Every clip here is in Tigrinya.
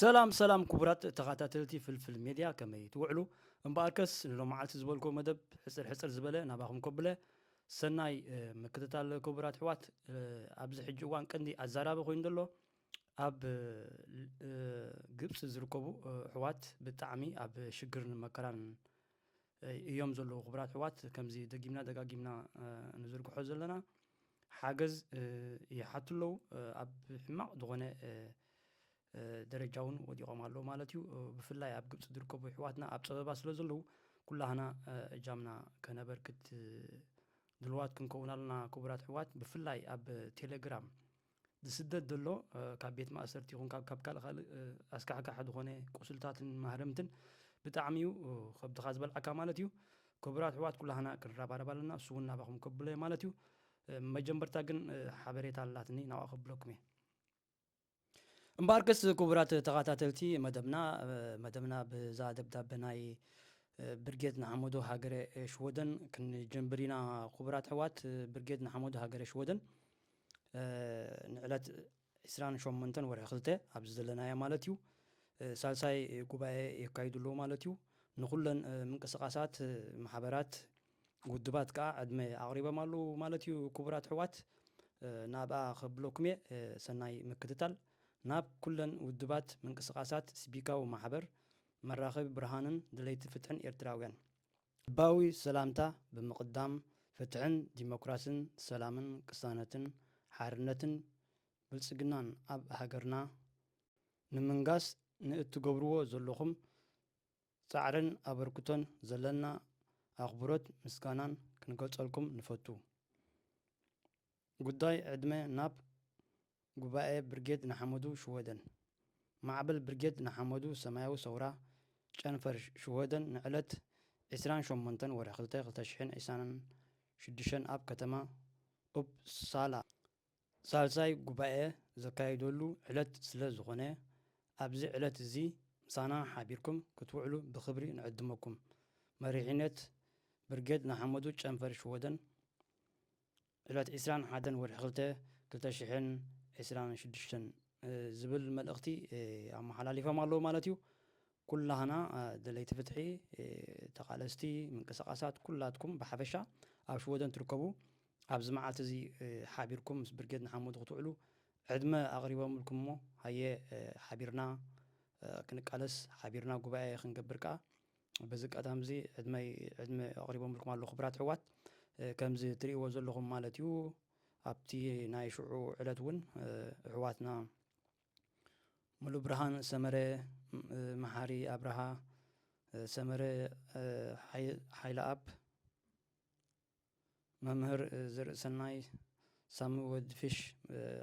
ሰላም ሰላም ክቡራት ተኸታተልቲ ፍልፍል ሜድያ ከመይ ትውዕሉ እምበኣርከስ ንሎመዓልቲ ዝበልኩዎ መደብ ሕፅር ሕፅር ዝበለ ናባኹም ከብለ ሰናይ ምክትታል ክቡራት ኣሕዋት ኣብዚ ሕጂ እዋን ቀንዲ ኣዛራቢ ኮይኑ ዘሎ ኣብ ግብፂ ዝርከቡ ኣሕዋት ብጣዕሚ ኣብ ሽግርን መከራን እዮም ዘለዉ። ክቡራት ኣሕዋት፣ ከምዚ ደጊምና ደጋጊምና ንዝርግሖ ዘለና ሓገዝ ይሓቱ ኣለዉ። ኣብ ሕማቕ ዝኾነ ደረጃ እውን ወዲቖም ኣለዉ ማለት እዩ። ብፍላይ ኣብ ግብፂ ዝርከቡ ኣሕዋትና ኣብ ፀበባ ስለ ዘለዉ ኩላህና እጃምና ከነበርክት ድልዋት ክንከውን ኣለና። ክቡራት ኣሕዋት፣ ብፍላይ ኣብ ቴሌግራም ዝስደድ ዘሎ ካብ ቤት ማእሰርቲ ይኹን ካብ ካብ ካልእ ካልእ ኣስካሕካሒ ዝኾነ ቁስልታትን ማህረምትን ብጣዕሚ እዩ ከብድኻ ዝበልዓካ ማለት እዩ ክቡራት ኣሕዋት ኩላህና ክንረባረብ ኣለና እሱ እውን ናባኹም ከብሎ እየ ማለት እዩ መጀመርታ ግን ሓበሬታ ኣላትኒ ናብኣ ከብለኩም እየ እምበኣርከስ ክቡራት ተኸታተልቲ መደብና መደብና ብዛ ደብዳበ ናይ ብርጌድ ንሓመዶ ሃገረ ሽወደን ክንጀምብር ኢና ክቡራት ኣሕዋት ብርጌድ ንሓመዶ ሃገረ ሽወደን ንዕለት ዕስራን ሸሞንተን ወርሒ ክልተ ኣብዚ ዘለናዮ ማለት እዩ ሳልሳይ ጉባኤ የካይዱ ኣለዉ ማለት እዩ ንኩለን ምንቅስቃሳት ማሕበራት ውድባት ከዓ ዕድመ ኣቕሪቦም ኣለዉ ማለት እዩ ክቡራት ሕዋት ናብኣ ከብለኩም እየ ሰናይ ምክትታል ናብ ኩለን ውድባት ምንቅስቃሳት ስቢካዊ ማሕበር መራኸቢ ብርሃንን ድለይቲ ፍትሕን ኤርትራውያን ልባዊ ሰላምታ ብምቅዳም ፍትሕን ዲሞክራስን ሰላምን ቅሳነትን ሓርነትን ብልጽግናን ኣብ ሃገርና ንምንጋስ ንእትገብርዎ ዘለኹም ጻዕርን ኣበርክቶን ዘለና ኣኽብሮት ምስጋናን ክንገልጸልኩም ንፈቱ። ጉዳይ ዕድመ ናብ ጉባኤ ብርጌድ ንሓመዱ ሽወደን ማዕበል ብርጌድ ንሓመዱ ሰማያዊ ሰውራ ጨንፈር ሽወደን ንዕለት ዕስራን ሸሞንተን ወርሒ ክልተ ክልተ ሽሕን ዒስራን ሽዱሽተን ኣብ ከተማ ኡፕሳላ ሳልሳይ ጉባኤ ዘካይደሉ ዕለት ስለ ዝኾነ ኣብዚ ዕለት እዚ ምሳና ሓቢርኩም ክትውዕሉ ብኽብሪ ንዕድመኩም። መሪሒነት ብርጌድ ንሓመዱ ጨንፈር ሽወደን ዕለት ዕስራን ሓደን ወርሒ ክልተ ክልተ ሽሕን ዕስራን ሽዱሽተን ዝብል መልእኽቲ ኣመሓላሊፎም ኣለዉ ማለት እዩ። ኩላህና ደለይቲ ፍትሒ፣ ተቓለስቲ፣ ምንቅስቓሳት ኩላትኩም ብሓፈሻ ኣብ ሽወደን ትርከቡ ኣብዚ መዓልቲ እዚ ሓቢርኩም ምስ ብርጌድ ንሓመዱ ክትውዕሉ ዕድመ ኣቕሪቦምልኩም እሞ ሃየ ሓቢርና ክንቃለስ ሓቢርና ጉባኤ ክንገብር ከኣ በዚ ኣጋጣሚ እዚ ዕድመይ ዕድመ ኣቕሪቦምልኩም ኣለዉ ክብራት ኣሕዋት ከምዚ እትርእይዎ ዘለኹም ማለት እዩ ኣብቲ ናይ ሽዑ ዕለት እውን ኣሕዋትና ሙሉ ብርሃን ሰመረ መሓሪ ኣብርሃ ሰመረ ሓይለ ኣብ መምህር ዝርእሰናይ ሳሚ ወድ ፊሽ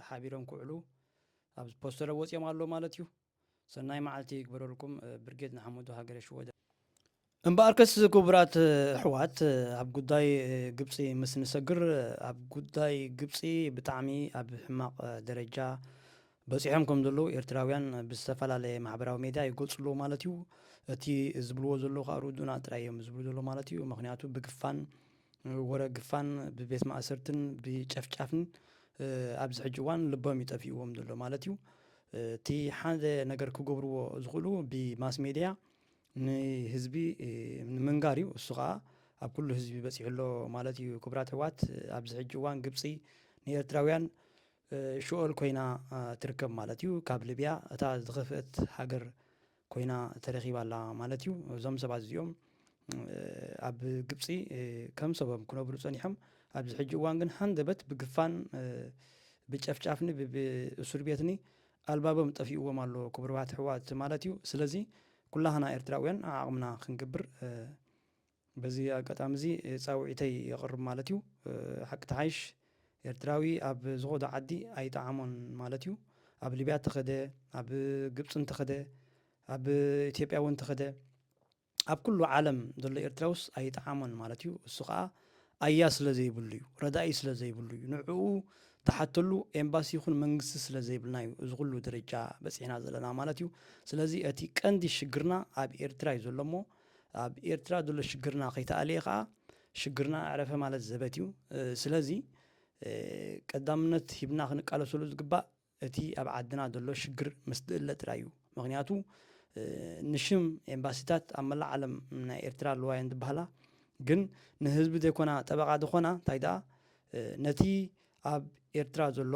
ሓቢሮም ክውዕሉ ኣብ ፖስተረ ወፂኦም ኣሎ ማለት እዩ ሰናይ መዓልቲ ይግበረልኩም ብርጌድ ንሓመዱ ሃገረ ሽወደ እምበኣርከስ ክቡራት ኣሕዋት ኣብ ጉዳይ ግብፂ ምስ ንሰግር ኣብ ጉዳይ ግብፂ ብጣዕሚ ኣብ ሕማቕ ደረጃ በጺሖም ከም ዘለዉ ኤርትራውያን ብዝተፈላለየ ማሕበራዊ ሜድያ ይገልጹ ኣለዉ ማለት እዩ። እቲ ዝብልዎ ዘለዉ ከኣ ርዱእና ጥራይ እዮም ዝብሉ ዘለዉ ማለት እዩ። ምክንያቱ ብግፋን ወረ ግፋን ብቤት ማእሰርትን ብጨፍጫፍን ኣብዚ ሕጂ እዋን ልቦም እዩ ጠፊእዎም ዘሎ ማለት እዩ። እቲ ሓደ ነገር ክገብርዎ ዝኽእሉ ብማስ ሜድያ ንህዝቢ ንምንጋር እዩ። እሱ ከኣ ኣብ ኩሉ ህዝቢ በጺሑ ኣሎ ማለት እዩ። ክቡራት ኣሕዋት ኣብዚ ሕጂ እዋን ግብጺ ንኤርትራውያን ሽኦል ኮይና ትርከብ ማለት እዩ። ካብ ልብያ እታ ዝኸፍእት ሃገር ኮይና ተረኺባ ኣላ ማለት እዩ። እዞም ሰባት እዚኦም ኣብ ግብፂ ከም ሰቦም ክነብሩ ፀኒሖም። ኣብዚ ሕጂ እዋን ግን ሃንደበት ብግፋን ብጨፍጫፍኒ ብእሱር ቤትኒ ኣልባቦም ጠፊእዎም ኣሎ ክብርባት ሕዋት ማለት እዩ። ስለዚ ኩላህና ኤርትራውያን ዓዓቕምና ክንገብር በዚ ኣጋጣሚ እዚ ጻውዒተይ የቕርብ ማለት እዩ። ሓቂ ትሓይሽ ኤርትራዊ ኣብ ዝኸዶ ዓዲ ኣይጠዓሞን ማለት እዩ። ኣብ ሊብያ እንተኸደ፣ ኣብ ግብጺ እንተኸደ፣ ኣብ ኢትዮጵያ እውን እንተኸደ፣ ኣብ ኩሉ ዓለም ዘሎ ኤርትራውስ ኣይጠዓሞን ማለት እዩ። እሱ ከኣ ኣያ ስለ ዘይብሉ እዩ። ረዳኢ ስለ ዘይብሉ እዩ። ንዕኡ ትሓተሉ ኤምባሲ ይኹን መንግስቲ ስለ ዘይብልና እዩ እዚ ኩሉ ደረጃ በጺሕና ዘለና ማለት እዩ። ስለዚ እቲ ቀንዲ ሽግርና ኣብ ኤርትራ እዩ ዘሎ እሞ ኣብ ኤርትራ ዘሎ ሽግርና ከይተኣልየ ከኣ ሽግርና ኣዕረፈ ማለት ዘበት እዩ። ስለዚ ቀዳምነት ሂብና ክንቃለሰሉ ዝግባእ እቲ ኣብ ዓድና ዘሎ ሽግር ምስ ዝእለ ጥራይ እዩ። ምክንያቱ ንሽም ኤምባሲታት ኣብ መላእ ዓለም ናይ ኤርትራ ኣለዋ እየን ዝበሃላ ግን ንህዝቢ ዘይኮና ጠበቓ ዝኾና እንታይ ደኣ ነቲ ኣብ ኤርትራ ዘሎ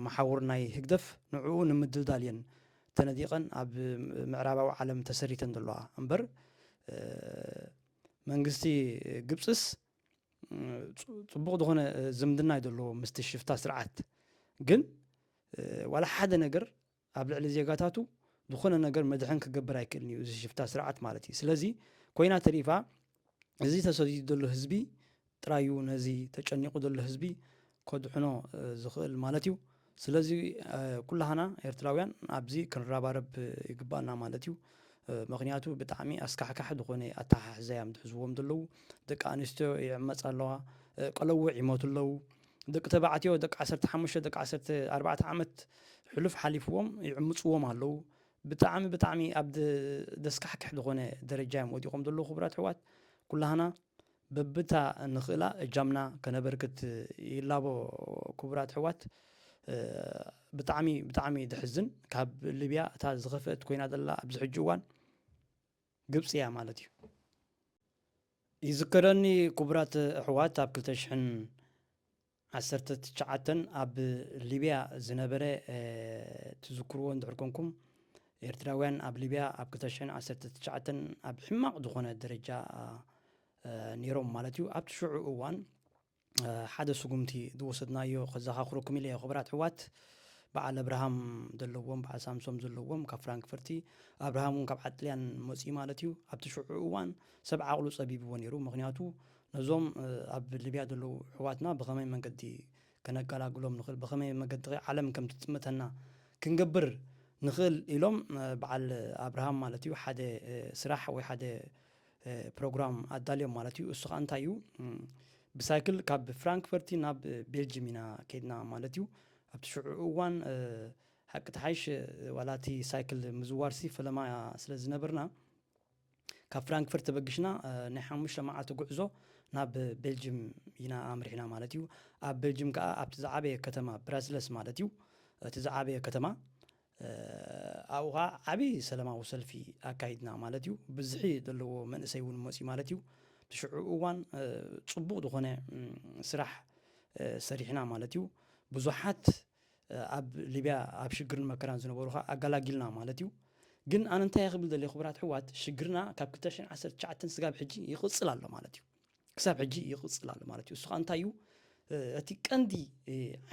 መሓውር ናይ ህግደፍ ንዕኡ ንምድልዳል እየን ተነዲቐን ኣብ ምዕራባዊ ዓለም ተሰሪተን ዘለዋ እምበር መንግስቲ ግብፅስ ፅቡቕ ዝኾነ ዝምድና እዩ ዘለዎ ምስቲ ሽፍታ ስርዓት ግን ዋላ ሓደ ነገር ኣብ ልዕሊ ዜጋታቱ ዝኾነ ነገር መድሕን ክገብር ኣይክእልን እዩ እዚ ሽፍታ ስርዓት ማለት እዩ ስለዚ ኮይና ተሪፋ እዚ ተሰዲዱ ዘሎ ህዝቢ ጥራይ እዩ ነዚ ተጨኒቑ ዘሎ ህዝቢ ከድሕኖ ዝኽእል ማለት እዩ። ስለዚ ኩላህና ኤርትራውያን ኣብዚ ክንረባረብ ይግባኣና ማለት እዩ። ምክንያቱ ብጣዕሚ ኣስካሕካሒ ዝኾነ ኣተሓሕዛ እዮም ዝሕዝዎም ዘለዉ። ደቂ ኣንስትዮ ይዕመጻ ኣለዋ፣ ቀለውዕ ይሞቱ ኣለዉ። ደቂ ተባዕትዮ ደቂ ዓሰርተ ሓሙሽተ ደቂ ዓሰርተ ኣርባዕተ ዓመት ሕሉፍ ሓሊፍዎም ይዕምጽዎም ኣለዉ። ብጣዕሚ ብጣዕሚ ኣብ ደስካሕክሕ ድኾነ ደረጃ እዮም ወዲቆም ዘለዉ ክቡራት ኣሕዋት ኩላህና በብታ ንኽእላ እጃምና ከነበርክት ይላቦ ክቡራት ኣሕዋት ብጣዕሚ ብጣዕሚ ድሕዝን ካብ ሊብያ እታ ዝኸፍአት ኮይና ዘላ ኣብዚ ሕጂ እዋን ግብፂ እያ ማለት እዩ ይዝከረኒ ክቡራት ኣሕዋት ኣብ ክልተ ሽሕን ዓሰርተ ትሽዓተ ኣብ ሊብያ ዝነበረ ትዝክርዎ እንድሕር ኮንኩም ኤርትራውያን ኣብ ሊብያ ኣብ ክልተ ሽሕን ዓሰርተ ትሽዓተን ኣብ ሕማቕ ዝኾነ ደረጃ ነይሮም ማለት እዩ ኣብቲ ሽዑ እዋን ሓደ ስጉምቲ ዝወሰድናዮ ከዘኻኽረኩም ኢለ ክብራት ሕዋት በዓል ኣብርሃም ዘለዎም በዓል ሳምሶም ዘለዎም ካብ ፍራንክፈርቲ ኣብርሃም እውን ካብ ዓጥልያን መፅኡ ማለት እዩ ኣብቲ ሽዑ እዋን ሰብ ዓቕሉ ፀቢብዎ ነይሩ ምክንያቱ ነዞም ኣብ ሊብያ ዘለዉ ኣሕዋትና ብኸመይ መንገዲ ከነገላግሎም ንኽእል፣ ብኸመይ መገዲኸ ዓለም ከም ትጥምተና ክንገብር ንኽእል ኢሎም በዓል ኣብርሃም ማለት እዩ ሓደ ስራሕ ወይ ሓደ ፕሮግራም ኣዳልዮም ማለት እዩ። እሱ ከዓ እንታይ እዩ ብሳይክል ካብ ፍራንክፈርቲ ናብ ቤልጅም ኢና ከይድና ማለት እዩ። ኣብቲ ሽዑ እዋን ሓቂ ተሓይሽ ዋላ እቲ ሳይክል ምዝዋርሲ ፈለማ ስለ ዝነበርና ካብ ፍራንክፈርት ተበግሽና ናይ ሓሙሽተ መዓልቲ ጉዕዞ ናብ ቤልጅም ኢና ኣምሪሕና ማለት እዩ። ኣብ ቤልጅም ከኣ ኣብቲ ዝዓበየ ከተማ ብራስለስ ማለት እዩ እቲ ዝዓበየ ከተማ ኣብኡ ከኣ ዓቢ ሰለማዊ ሰልፊ ኣካይድና ማለት እዩ። ብዝሒ ዘለዎ መንእሰይ እውን መጽዩ ማለት እዩ። እቲ ሽዑ እዋን ጽቡቕ ዝኾነ ስራሕ ሰሪሕና ማለት እዩ። ብዙሓት ኣብ ሊብያ ኣብ ሽግርን መከራን ዝነበሩ ከኣ ኣጋላጊልና ማለት እዩ። ግን ኣነ እንታይ እየ ክብል ደልየ ክቡራት ኣሕዋት ሽግርና ካብ ክልተ ሽሕን ዓሰርተ ትሽዓተን ስጋብ ሕጂ ይቕጽል ኣሎ ማለት እዩ። ክሳብ ሕጂ ይቕጽል ኣሎ ማለት እዩ። እሱ ከኣ እንታይ እዩ እቲ ቀንዲ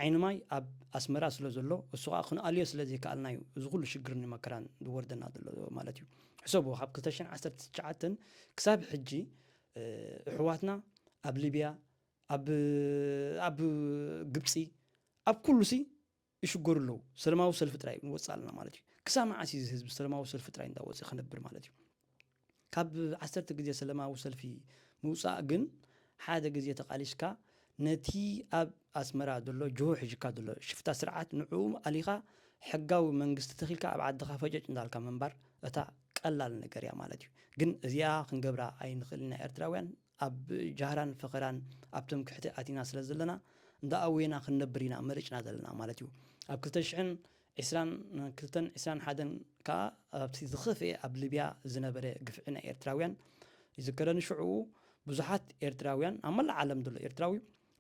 ዓይኒ ማይ ኣብ ኣስመራ ስለ ዘሎ እሱ ከኣ ክንኣልዮ ስለ ዘይከኣልና እዩ እዚ ኩሉ ሽግርን መከራን ዝወርደና ዘሎ ማለት እዩ። ሕሰብዎ ካብ ክልተ ሽሕን ዓሰርተ ትሽዓተን ክሳብ ሕጂ እሕዋትና ኣብ ሊብያ ኣብ ኣብ ግብጺ ኣብ ኩሉሲ ይሽገሩ ኣለዉ ሰለማዊ ሰልፊ ጥራይ ወጽእ ኣለና ማለት እዩ ክሳብ መዓስ እዚ ህዝቢ ሰለማዊ ሰልፊ ጥራይ እንዳወጽእ ክነብር ማለት እዩ ካብ ዓሰርተ ግዜ ሰለማዊ ሰልፊ ምውጻእ ግን ሓደ ግዜ ተቃሊስካ ነቲ ኣብ ኣስመራ ዘሎ ጅሆ ሒዥካ ዘሎ ሽፍታ ስርዓት ንዕኡ ኣሊኻ ሕጋዊ መንግስቲ ተኺልካ ኣብ ዓድኻ ፈጨጭ እንዳልካ ምንባር እታ ቀላል ነገር እያ ማለት እዩ ግን እዚኣ ክንገብራ ኣይንኽእል ኢና ኤርትራውያን ኣብ ጃህራን ፈኸራን ኣብቶም ክሕተ ኣቲና ስለ ዘለና እንዳ ኣውየና ክንነብር ኢና መሪጽና ዘለና ማለት እዩ። ኣብ ክልተ ሽሕን ዕስራን ክልተን ዕስራን ሓደን ከኣ ኣብቲ ዝኸፍኤ ኣብ ሊብያ ዝነበረ ግፍዒ ናይ ኤርትራውያን ይዝከረኒ ሽዑኡ ብዙሓት ኤርትራውያን ኣብ መላእ ዓለም ዘሎ ኤርትራዊ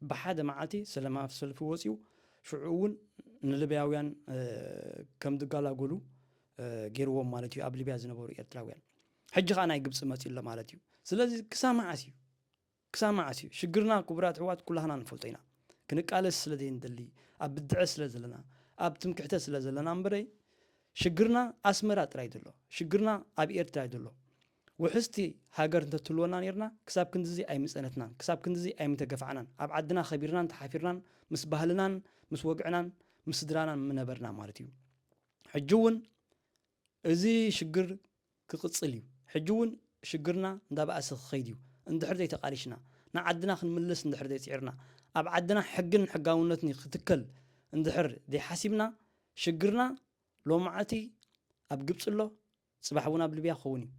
ብሓደ መዓልቲ ሰለማዊ ሰልፊ ወጺኡ ሽዑ ውን ንልብያውያን ከም ዝጋላጎሉ ጌርዎም ማለት እዩ ኣብ ሊብያ ዝነበሩ ኤርትራውያን ሕጂ ከኣ ናይ ግብጺ መጽዩ ኣሎ ማለት እዩ ስለዚ ክሳብ መዓስ እዩ ክሳብ መዓስ እዩ ሽግርና ክቡራት ኣሕዋት ኩላህና ንፈልጦ ኢና ክንቃለስ ስለ ዘይንደሊ ኣብ ብድዐ ስለ ዘለና ኣብ ትምክሕተ ስለ ዘለና እምበረይ ሽግርና ኣስመራ ጥራይ ዘሎ ሽግርና ኣብ ኤርትራ ዘሎ ውሕስቲ ሃገር እንተትህልወና ኔርና ክሳብ ክንድዚ ኣይምጸነትናን ክሳብ ክንድዚ ኣይምተገፋዕናን ኣብ ዓድና ከቢርናን ተሓፊርናን ምስ ባህልናን ምስ ወግዕናን ምስ ስድራናን ምነበርና ማለት እዩ ሕጂ እውን እዚ ሽግር ክቅጽል እዩ ሕጂ ውን ሽግርና እንዳባኣሰ ክከይድ እዩ እንድሕር ዘይተቃሊሽና ንዓድና ክንምለስ እንድሕር ዘይጺዕርና ኣብ ዓድና ሕግን ሕጋውነትን ክትከል እንድሕር ዘይሓሲብና ሽግርና ሎማዓልቲ ኣብ ግብጺ ኣሎ ጽባሕ ውን ኣብ ልብያ ክከውን እዩ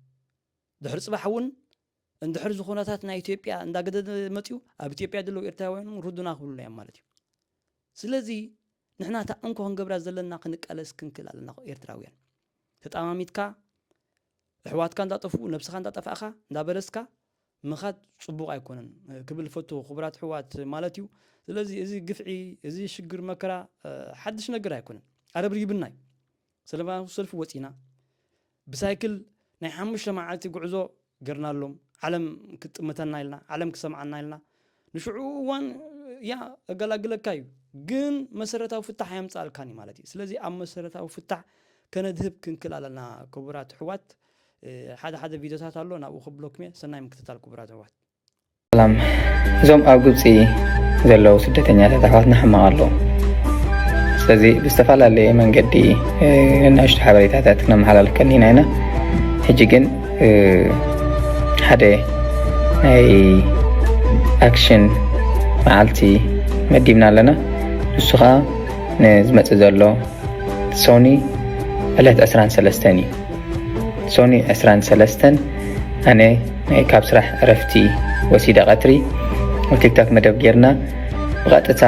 ድሕሪ ጽባሕ ውን እንድሕር እዚ ኩነታት ናይ ኢትዮጵያ እንዳገደደ መፅኡ ኣብ ኢትዮጵያ ዘለዉ ኤርትራውያን እውን ርዱና ክብሉና እዮም ማለት እዩ ስለዚ ንሕና እታ እንኮ ክንገብራ ዘለና ክንቃለስ ክንክእል ኣለና ኤርትራውያን ተጣማሚትካ ኣሕዋትካ እንዳጠፍኡ ነብስኻ እንዳጠፋእኻ እንዳበለስካ ምኻድ ፅቡቕ ኣይኮነን ክብል ፈቱ ክቡራት ኣሕዋት ማለት እዩ ስለዚ እዚ ግፍዒ እዚ ሽግር መከራ ሓድሽ ነገር ኣይኮነን ኣረብሪብና እዩ ሰለማዊ ሰልፊ ወጺና ብሳይክል ናይ ሓሙሽተ መዓልቲ ጉዕዞ ገርናሎም ዓለም ክትጥምተና ኢልና ዓለም ክሰምዓና ኢልና ንሽዑ እዋን እያ ኣገላግለካ እዩ ግን መሰረታዊ ፍታሕ ኣየምጻልካን እዩ ማለት እዩ ስለዚ ኣብ መሰረታዊ ፍታሕ ከነድህብ ክንክል ኣለና ክቡራት ኣሕዋት ሓደ ሓደ ቪድዮታት ኣሎ ናብኡ ክብለኩም እየ ሰናይ ምክትታል ክቡራት ኣሕዋት ሰላም እዞም ኣብ ግብፂ ዘለዉ ስደተኛታት ኣሕዋትና ሕማቕ ኣለዉ ስለዚ ብዝተፈላለየ መንገዲ ንናሽቶ ሓበሬታታት ክነመሓላልፍ ቀኒና ኢና ሕጂ ግን ሓደ ናይ ኣክሽን መዓልቲ መዲብና ኣለና ንሱ ከዓ ንዝመፅእ ዘሎ ሶኒ ዕለት 23 እዩ ሶኒ 23 ኣነ ካብ ስራሕ ዕረፍቲ ወሲደ ቀትሪ ኣብ ቲክቶክ መደብ ጌርና ብቐጥታ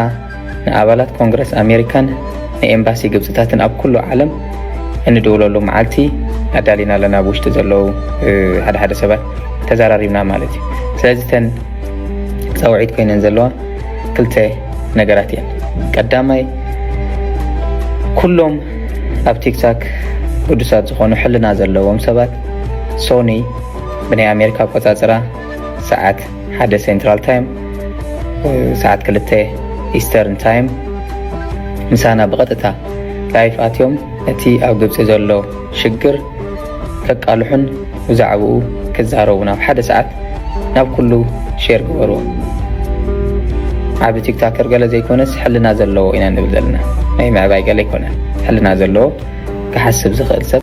ንኣባላት ኮንግረስ ኣሜሪካን ንኤምባሲ ግብፅታትን ኣብ ኩሉ ዓለም እንድውለሉ መዓልቲ ኣዳሊና ኣለና ኣብ ውሽጢ ዘለዉ ሓደ ሓደ ሰባት ተዘራሪብና ማለት እዩ ስለዚ ተን ፀውዒት ኮይነን ዘለዋ ክልተ ነገራት እየን ቀዳማይ ኩሎም ኣብ ቲክታክ ቅዱሳት ዝኾኑ ሕልና ዘለዎም ሰባት ሶኒ ብናይ ኣሜሪካ ኣቆፃፅራ ሰዓት ሓደ ሴንትራል ታይም ሰዓት ክልተ ኢስተርን ታይም ምሳና ብቐጥታ ላይፍ ኣትዮም እቲ ኣብ ግብፂ ዘሎ ሽግር ከቃልሑን ብዛዕባኡ ክዛረቡ ናብ ሓደ ሰዓት ናብ ኩሉ ሼር ግበርዎ ዓብ ቲክታከር ገለ ዘይኮነስ ሕልና ዘለዎ ኢና ንብል ዘለና ናይ ምዕባይ ገለ ኣይኮነን ሕልና ዘለዎ ክሓስብ ዝኽእል ሰብ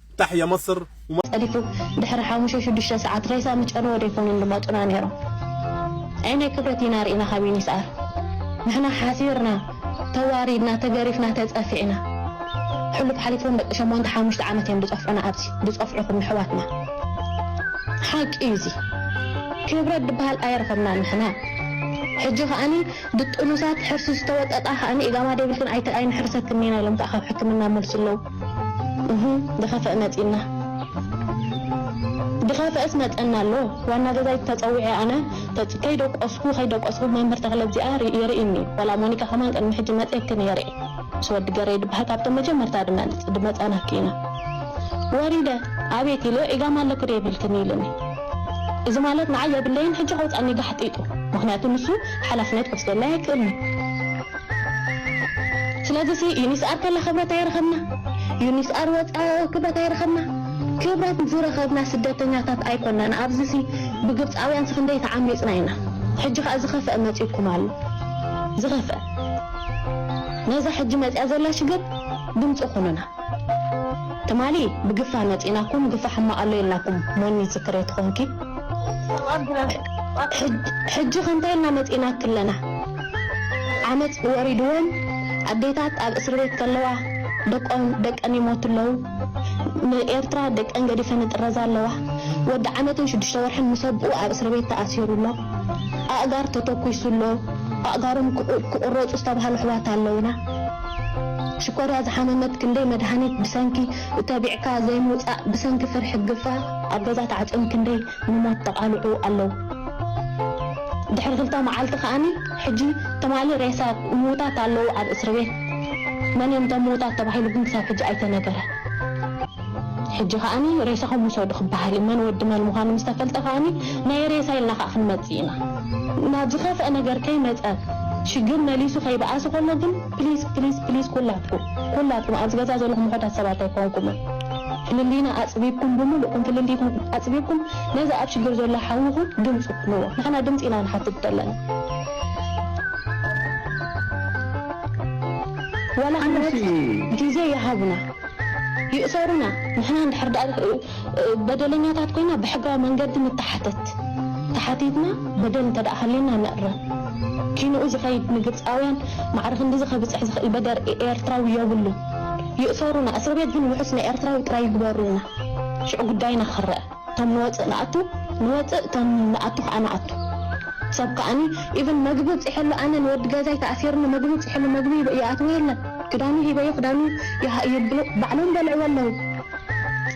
ታሕያ መስር። ጸዲፉ ድሕሪ ሓሙሽተ ሽዱሽተ ሰዓት ሬሳ ምስ ጨነወ ዶ ይኮኑ ድመጹና ኔሮም ኣየናይ ክብረት ኢና ሪኢና ካብ ዩኒስኣር ንሕና ሓፊርና ተዋሪድና ተገሪፍና ተጸፊዕና ሕሉፍ ሓሊፎም ደቂ ሸሞንተ ሓሙሽተ ዓመት እዮም ድጸፍዑና ኣብዚ ድጸፍዑኩም ኣሕዋትና ሓቂ እዩ እዚ ክብረት ድበሃል ኣየረከብናን ንሕና ሕጂ ከኣኒ ድጥኑሳት ሕርሲ ዝተወጠጣ ከኣኒ ኢጋማ ደይብልክን ኣይተ ኣይንሕርሰክን ኔና ኢሎም ከኣ ካብ ሕክምና መልሲ ኣለው እህ ድኻፈእ መጺና ድኻፈእስ መጸና ኣሎ ዋና ገዛይት ተጸዊዐ ኣነ ከይደቆስኩ ከይደቆስኩ መምህር ተኽለ እዚኣ የርእይኒ ዋላ ሞኒካ ከማን ቅድሚ ሕጂ መጺየኪ ነይረ ምስ ወዲ ገሬ ድበሃል ካብቶም መጀመርታ ድመጽ ድመጻናኪ ኢና ወሪደ ኣቤት ኢለ ዒጋም ኣለኪ ዶ የብልክን ኢልኒ እዚ ማለት ንዓይ የብለይን ሕጂ ከውጻኒ ጋሕጢጡ ምኽንያቱ ንሱ ሓላፍነት ክወስደለይ ኣይክእልን'ዩ። ስለዚ ሲ ዩኒስ ኣር ከላ ክብረት ኣይረኸብና ዩኒስ ኣር ወጽኣ ክብረት ኣይረኸብና ክብረት ዝረኸብና ስደተኛታት ኣይኮናን ኣብዚ ሲ ብግብጻውያን ሲ ክንደይ ተዓሚጽና ኢና ሕጂ ከኣ ዝኸፍኣ መጺኩም ኣሎ ዝኸፍኣ ነዛ ሕጂ መጽያ ዘላ ሽግር ድምጺ ኩኑና ትማሊ ብግፋ መጺናኩም ግፋ ሕማቅ ኣሎ ኢልናኩም ሞኒ ትዝክሬቲ ኮንኪ ሕጂ ከ እንታይ ኢልና መጺናኪ ኣለና ዓመጽ ወሪድወን ኣዴታት ኣብ እስርቤት ከለዋ ደቆም ደቀን ይሞቱ ኣለዉ ን ኤርትራ ደቀን ገዲፈን ይጥረዛ ኣለዋ ወዲ ዓመትን ሽዱሽተ ወርሕን ምስ ኣቡኡ ኣብ እስርቤት ተኣሲሩ ኣሎ ኣእጋር ተተኩሱ ኣሎ ኣእጋሮም ክቁረጹ ዝተባሃሉ ኣሕዋት ኣለዉና ሽኮርያ ዝሓመመት ክንደይ መድሃኒት ብሰንኪ ተቢዕካ ዘይምውጻእ ብሰንኪ ፍርሒ ግፋ ኣብ ገዛ ተዓጽዮም ክንደይ ንሞት ተቓሊዑ ኣለው። ድሕሪ ክልተ መዓልቲ ከኣ ሕጂ ትማሊ ሬሳ ምዉታት ኣለው ኣብ እስርቤት። መን እዮም እቶም ምዉታት ተባሂሉ ግን ክሳብ ሕጂ ኣይተነገረን። ሕጂ ከኣ ሬሳኹም ውሰዱ ክበሃል እዩ። መን ወዲ መን ምዃኑ ምስ ተፈልጠ ከኣ ናይ ሬሳ ኢልና ከኣ ክንመጽእ ኢና። ናብ ዝኸፍኣ ነገር ከይመጸ ሽግር መሊሱ ከይበኣሰ ከሎ ግን፣ ፕሊስ ፕሊስ ፕሊስ ኩላትኩም ኩላትኩም ኣብዚ ገዛ ዘለኹም ውሑዳት ሰባት ኣይኮንኩምን ፍልልይና ኣጽቢብኩም ብምሉእኩም ፍልልይኩም ኣጽቢብኩም ነዚ ኣብ ሽግር ዘሎ ሓውኹም ድምጹ ኩንዎ ንሕና ድምጺ ኢና ንሓትት ዘለና ዋላ ዓመት ግዜ ይሃቡና ይእሰሩና ንሕና እንድሕር ደኣ በደለኛታት ኮይና ብሕጋዊ መንገዲ ንተሓተት። ተሓቲትና በደል እንተደኣ ሃልዩና ንእረም። ኪንኡ ዝኸይድ ንግብጻውያን ማዕረ ክንድዚ ከብጽሕ ዝኽእል በደር ኤኤርትራዊ ዮብሉን። ይእሰሩና እስርቤት ግን ውሑስ ናይ ኤርትራዊ ጥራይ ይግበሩልና። ሽዑ ጉዳይና ክረኣ። እቶም ንወጽእ ንኣቱ ንወጽእ እቶም ንኣቱ ከኣ ንኣቱ። ሰብ ከኣኒ ኢቭን መግቢ ኣብጺሐሉ ኣነ ንወዲ ገዛይ ተኣሲርኒ መግቢ ኣብጺሐሉ መግቢ ይኣትዎ የለን ክዳኑ ሂበዮ ክዳኑ ይብሉ ባዕሎም በልዕዎ ኣለዉ።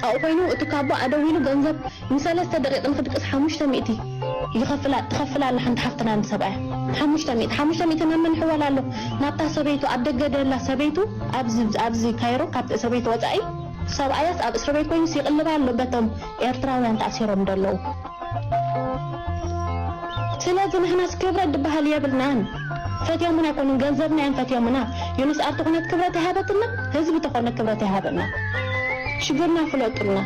ኣብኡ ኮይኑ እቲ ካቦ ኣደው ኢሉ ገንዘብ ንሰለስተ ደቂቅ ንክድቅስ ሓሙሽተ ሚእቲ ይከፍላ ትከፍል ኣላ ሓንቲ ሓፍትና ንሰብኣያ ሓሙሽተ ሚእቲ ሓሙሽተ ሚእቲ ናብ መን ይሕወል ኣሎ ናብታ ሰበይቱ ኣብ ደገ ደላ ሰበይቱ ኣብዚ ኣብዚ ካይሮ ካብ ሰበይቱ ወጻኢ ሰብኣያስ ኣብ እስርቤት ኮይኑስ ይቅልብ ኣሎ በቶም ኤርትራውያን ተኣሲሮም ደለዉ ስለዚ ንሕናስ ክብረት ድበሃል የብልናን ፈትዮሙና ኣይኮኑን ገንዘብና እዮም ፈትዮሙና ዮኑስ ኣብ ተኾነት ክብረት ኣይሃበትልና ህዝቢ ተኾነ ክብረት ኣይሃበና ሽግርና ፍለጡልና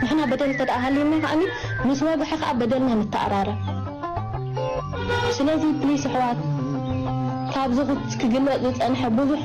ንሕና በደል እንተደኣ ሃልዩና ከኣኒ ምስ ወግሐ ከኣ በደልና ንተኣራረም ስለዚ ፕሊስ ኣሕዋት ካብዚ ክግለጽ ዝጸንሐ ብዙሕ